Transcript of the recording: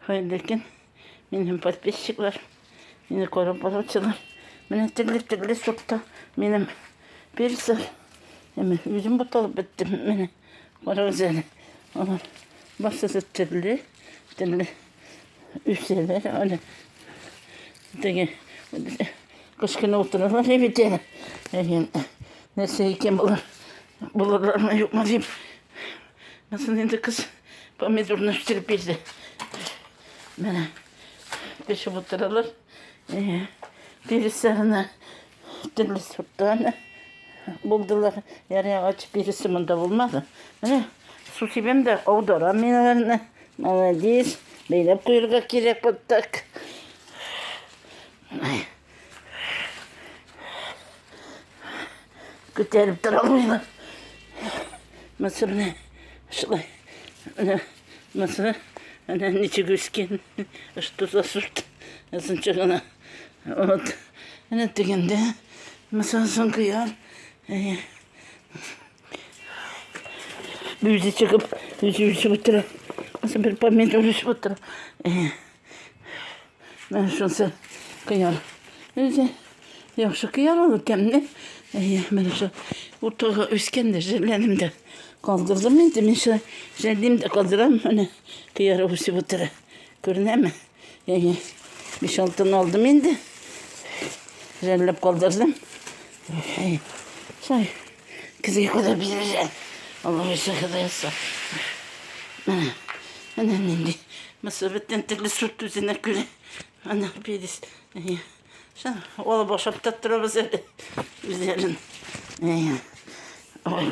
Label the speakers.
Speaker 1: Хәерле көн. Мин һәм подписчиклар. Мине карап баручылар. Менә төрле-төрле сортта минем персер. Әмә үзем буталып беттем. Менә карагыз әле. Алар барсысы төрле, төрле үсәләр. Әле теге кышкына утыралар бит әле. Нәрсә икән болар? Булырлармы юкмы дип Мысын инде кыз помидорны үстереп бирде. Менә пешеп утыралар. Биресе гына төрле сорттан булдылар. Ярый агач биресе монда булмады. Менә су сибәм дә аударам мин аларны. Молодец. Бәйләп куярга кирәк вот так. Күтәреп тора алмыйм. Мысы менә шулай. Менә мысы менә ничек үскән. Что за сорт? Озынча гына. Вот. Менә дигәндә мысы соң кыяр. Үзе чыгып, үзе үсеп утыра. Мысы бер помидор үсеп утыра. Менә шунысы кыяр. Үзе яхшы кыяр ул икәнне. Әйе, менә шул уртага үскән дә җирләнем дә. Калдырдым инде мин шул җәлдим дә калдырам. Менә кыяр үсеп утыра. Күренәме? Әйе. Биш алтын алдым инде. Жәлләп калдырдым. Әйе. Шай. Кызый куды бизәлә. Аллаһы сәхәдә яса. Менә, менә нинди. Мысы бөтен төрле сорт үзенә күрә. Ана перец. Шын, алып ашап та торабыз әле. Үзләрен. Ой,